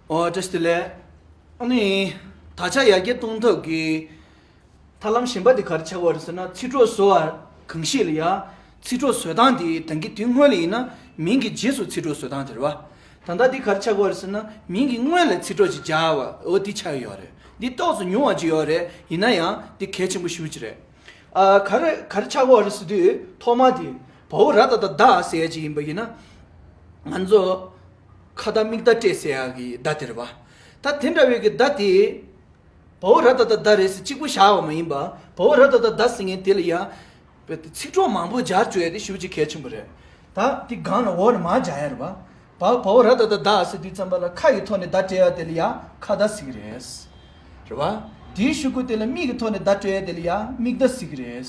ཏྲེ་སི་ལེ། ཨ་ནི། ད་ཆ་ཡར་རྒྱས་གཏོང་ཐབས་ཀྱི་ཐབས་ལམ་གཞན་པ་དེ་གར་ཆགས་པ་རེད་ཟེར་ན་ཚིག་གྲོགས་བཟོ་བ་གང་ཞིག་ལ་ཡང་ཚིག་གྲོགས་བཟོས་སྟངས་དེ་ད་གི་དུས་སྔོན་ལ་ཡིན་ན་མིང་གི་རྗེས་སུ་ཚིག་གྲོགས་བཟོས་སྟངས་དེ་རེད་བ། ད་ལྟ་དེ་གར་ཆགས་པ་རེད་ཟེར་ན་མིང་གི་སྔོན་ལ་ཚིག་གྲོགས་ཅིག་སྦྱར་བ་འོ་དེ་ཆགས་ཡོད་རེད། འདི་རྟོགས་བཟོ་ཉུང་བ་ཅིག་ཡོད་རེད་ཡིན་ན་ཡང་དེ་གལ་ཆེན་པོ་ཞུ་ཅིག་རེད། ཨ་གར་གར་ཆགས་པ་རེད་ཟེར་དུས་ཐོག་མ་དེ་བ་བོ་ར་ད་ད་དག་ཟེར་ཡ་ཅིག་ཡིན་པ་ཡིན་ན། ང་ཚོ། ཁ་བརྡ་མིག་བརྡ་སྤྲད་སའི་ཨག་གི་བརྡ་དེར་བ། ད་དེ་འདྲ་བའི་གི་བརྡ་དེས། བ་བོ་ར་ད་ད་བརྡ་རེད་ཟེར་གཅིག་པུ་བཞག་བ་མ་ཡིན་པ། བ་བོ་ར་ད་ད་བརྡ་ཟེར་མཁན་དེ་ལ་ཡང། ཚིག་གྲོགས་མང་པོ་སྦྱར་བཅོས་དེ་ཞུ་རྒྱུ་གལ་ཆེན་པོ་རེད། ད་དེ་སྒང་ལ་འོག་ལ་མ་སྦྱར་ཡར་བ། བ་བོ་ར་ད་ད་བརྡ་ཟེར་དུས་ཙམ་པ་ལ་ཁ་གི་ཐོག་ནས་བརྡ་སྤྲད་ཡ་དེ་ལ་ཡང་ཁ་བརྡ་ཟེར་གི་རེད། རེད་བ། དེའི་ཞུ་སྐུལ་དེ་ལ་མིག་གི་ཐོག་ནས་བརྡ་སྤྲད་ཡ་དེ་ལ་ཡང་མིག་བརྡ་ཟེར་གི་རེད།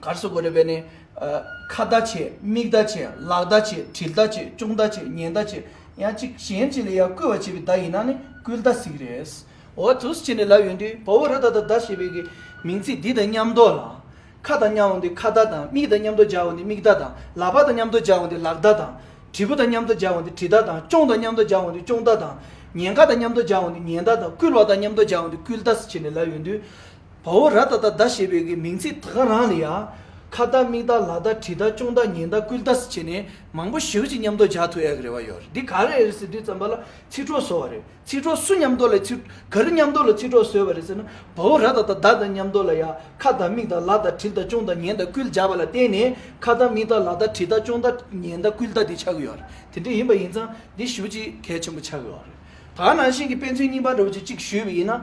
གར་སོགས་དགོད་སྒྲ་སྦས་ནས། ཁ་བརྡ་བྱས་མིག་བརྡ་བྱས་ལག་བརྡ་བྱས་དྲིལ་བརྡ་བྱས་ཅོང་བརྡ་བྱས་ཉན་བརྡ་བྱས་ཡང་གཅིག་གཞན་གཅིག་ལ་ཡང་སྐུལ་བར་བྱེད་པའི་བརྡ་ཡིན་ན་ནི་སྐུལ་བརྡ་ཟིག་རེད། འོ་ཐུགས་ཆེ་ནས་ལབ་ཡོང་དུས་བོ་བོ་རི་དྭགས་དང་བརྡ་ཞེས་པའི་གི་མིང་ཚིག་འདི་དང་མཉམ་འདོགས་ལ། ཁ་དང་མཉམ་འོང་དུས་ཁ་བརྡ་དང་མིག་དང་མཉམ་འདོགས་སྦྱར་འོང་དུས་མིག་བརྡ་དང་ལག་པ་དང་མཉམ་འདོགས་སྦྱར་འོང་དུས་ལག་བརྡ་དང། དྲིལ་བུ་དང་མཉམ་འདོགས་སྦྱར་འོང་དུས་དྲིལ་བརྡ་དང་ཅོང་དང་མཉམ་འདོགས་སྦྱར་འོང་དུས་ཅོང་བརྡ་དང། ཉན་ཁ་དང་མཉམ་འདོགས་སྦྱར་འོང་དུས་ཉན་བརྡ་དང་སྐུལ་བ་དང་མཉམ་འདོགས་སྦྱར་འོང་དུས་སྐུལ་བརྡ་ཟེར་ཆེ་ནས་ལབ་ཡོང་དུས། བ་འོ་ར་ད་ད་ད་ཞེས་པའི་གི་མིང་ཚིག་ད་ག་རང་ལ་ཡ། ཁ་བརྡ་མིག་བརྡ་ལག་བརྡ་གྲི་བརྡ་ཅོང་བརྡ་ཉན་བརྡ་སྐུལ་བརྡ་སི་བྱས་ནས་མང་པོ་ཞིག་གི་མཉམ་འདོགས་རྒྱག་ཐུབ་ཨེ་གི་རེ་བ་ཡོད་རེད་འདི་ག་རེ་རེད་ཟེར་དུས་བརྩམས་པ་ལ་ཚིག་གྲོགས་བཟོ་བ་རེད་ཚིག་གྲོགས་སུ་མཉམ་འདོགས་ལ་ཚིག་ག་རེ་མཉམ་འདོགས་ལ་ཚིག་གྲོགས་བཟོས་པ་རེད་ཟེར་ན་བ་འོ་ར་ད་ད་ད་ད་མཉམ་འདོགས་ལ་ཡ་ཁ་བརྡ་མིག་བརྡ་ལག་བརྡ་གྲི་བརྡ་ཅོང་བརྡ་ཉན་བརྡ་སྐུལ་རྒྱག་པ་ལ་བརྟེན་ནས་ཁ་བརྡ་མིག་བརྡ་ལག་བརྡ་གྲི་བརྡ་ཅོང་བརྡ་ཉན་བརྡ་སྐུལ་བརྡ་འདི་ཆགས་གི་ཡོད་རེད་དེ་འདྲ་ཡིན་པ་ཡིན་ཙང་འདི་ཞུ་གཅིག་གལ་ཆེན་པོ་ཆགས་གི་ཡོད་རེད་ད་ག་ནང་བཞིན་གི་དཔེ་མཚོན་རྙིང་པ་འདྲ་བོ་ཅིག་གཅིག་ཞུས་པ་ཡིན་ན་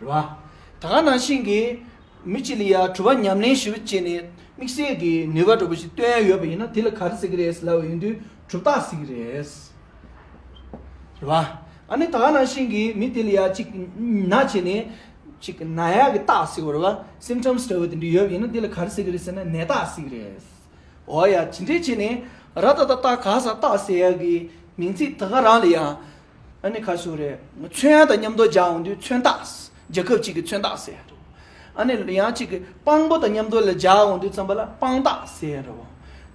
རེད་བ། ད་ག་ནང་བཞིན་གྱི་མི་གཅིག་ལ་ཡ་གྲུ་བ་ཉམས་ལེན་ཞུ་བྱས་ནས་དམིགས་བསལ་གྱི་ནུས་པ་འགྲོ་པོ་ཞིག་སྟོན་ཡོད་པ་ཡིན་ན་དེ་ལ་ག་རེ་ཟེར་གྱི་རེད་ལབ་ཡོང་དུས་གྲུབ་རྟགས་ཟེར་གྱི་རེད། རེད་བ། ཨ་ནི་ད་ག་ནང་བཞིན་གྱི་མི་དེ་ལ་ཡ་གཅིག་ན་བྱས་ནས་གཅིག་ན་ཡ་གི་རྟགས་ཟེར་བ་རེད་བ Symptoms འདྲ་བོ་དེ་འདྲ་ཡོད་པ་ཡིན་ན་དེ་ལ་ག་རེ་ཟེར་གྱི་རེད་ཟེར་ན་ནད་རྟགས་ཟེར་གྱི་རེད། འོ་ཡ་ཇི་འདྲའི་བྱས་ནས་ར་ད་ད་ད་ག་ཟ་རྟགས་ཟེར་ཡ་གི་མིང་ཚིག་ད་ག་རང་ལ་ཡ་ཨ་ནི་ཁ་སུ་རེད། མཚོན་ཡང་དང་མཉམ་རྡོ་རྗག་འོང་དུས་མཚོན་རྟགས། རྒྱལ་ཁབ་ཅིག་གི་མཚོན་རྟགས་ཟེར་ཡ་རོ། ཨ་ནི་ཡང་གཅིག་གི་དཔང་པོ་དང་མཉམ་རྡོ་ལ་རྒྱག་འོང་དུས་རྩམ་པ་ལ་དཔང་རྟགས་ཟེར་ཡ་རོ།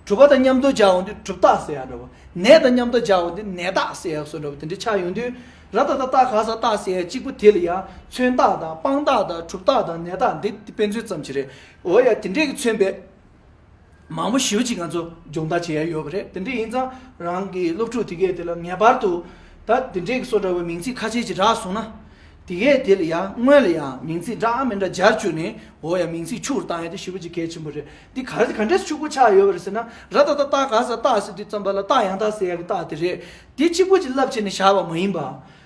གྲུ་པ་དང་མཉམ་རྡོ་རྒྱག་འོང་དུས་གྲུབ་རྟགས་ཟེར་ཡ་རོ། ནས་དང་མཉམ་རྡོ་རྒྱག་འོང་དུས་ནས་རྟགས་ཟེར་ཡ་སོགས་འདྲ་བོ་དེ་འདྲའི་ཆ་ཡོང་དུས། ར་ད་ད་རྟགས་ག་ས་རྟགས་ཟེར་ཡ་གཅིག་པོ་དེ་ལ་ཡང་མཚོན་རྟགས་དང་དཔང་རྟགས་དང་གྲུབ་རྟགས་དང་ནས་རྟགས་འདི་དཔེ་མཚོན་ཙམ་གྱི་རེད། འོ་ཡ་དེ་འདྲས་ཀྱི་མཚོན་པའི། མང་པོ་ཞིབ་ཅིག་ང་ཚོ་སྦྱོང་བརྡར་བྱས་ཡོད་པ་རེད་དེ་འདྲས་ཡིན་ཙང་རང་གི་སློབ་ཕྲུག་དེ་གས་དེ་ལ་ངེས་པར་དུ་ད་དེ་འདྲས་ཀྱི་སོ་འདྲ་བའི་མིང་ཚིག་ཁ་ཆེ་ཅིག་བསྒྲགས་སོང་ན། དེ་གས་དེ་ལ་ཡང་སྔོན་ལ་ཡང་མིང་ཚིག་འདྲ་མི་འདྲ་སྦྱར་བཅུག་ནས་འོ་ཡ་མིང་ཚིག་ཕྱུག་རུ་བཏང་ཡ་དེ་ཞིབ་ཅིག་གལ་ཆེན་པོ་རེད་དེ་ག་ག་འདྲས་སུ་ཕྱུག་པོ་ཆགས་ཡོད་པ་རེད་ཟེར་ན་ར་ད་ད་རྟགས་ག་ས་རྟགས་ཟེར་དུས་ཙམ་པ་ལ་རྟགས་ཡང་དག་ཟེར་ཡ་གི་རྟགས་དེ་རེད་དེ་གཅིག་པུ་གཅིག་ལབ་བྱས་ནས་བཞག་པ་མ་ཡིན་པ།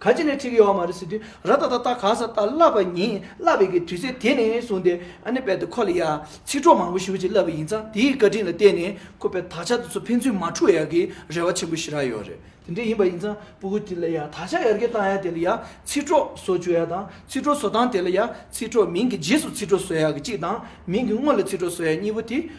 ག་ཅི་ནས་ཁྲིད་ཀྱི་ཡོད་མ་རེད་ཟེར་དུས་ར་ད་ད་ལྟ་ག་ས་ལྟ་བསླབ་པ་ཉིན་བསླབ་བའི་གི་དུས་ཚོད་དེ་ནས་བཟུང་སྟེ་ཨ་ནེ་པད་དུ་ཁོ་ལ་ཡ་ཚིག་གྲོགས་མང་པོ་ཞུ་ཅིག་བསླབ་པ་ཡིན་ཙང་དེའི་བཀའ་དྲིན་ལ་བརྟེན་ནས་ཁོ་པས་ད་ཆ་དེ་ཚོ་ཕན་ཚུན་མ་འཁྲུག་ཡ་གི་རེ་བ་ཆེན་པོ་ཞིག་རག་ཡོད་རེད་དེ་འདྲ་ཡིན་པ་ཡིན་ཙང་པུ་གུ་དེ་ལ་ཡ་ད་ཆ་ཡར་རྒྱས་བཏང་ཡ་དེ་ལ་ཡ་ཚིག་གྲོགས་བཟོ་བཅུག་ཡ་དང་ཚིག་གྲོགས་བཟོ་སྟངས་དེ་ལ་ཡ་ཚིག་གྲོགས་མིང་གི་རྗེས་སུ་ཚིག་གྲོགས་བཟོ་ཡ་གི་གཅིག་དང་མིང་གི་སྔོན་ལ་ཚིག་གྲོགས་བཟོ་ཡ་གཉིས་པོ་དེ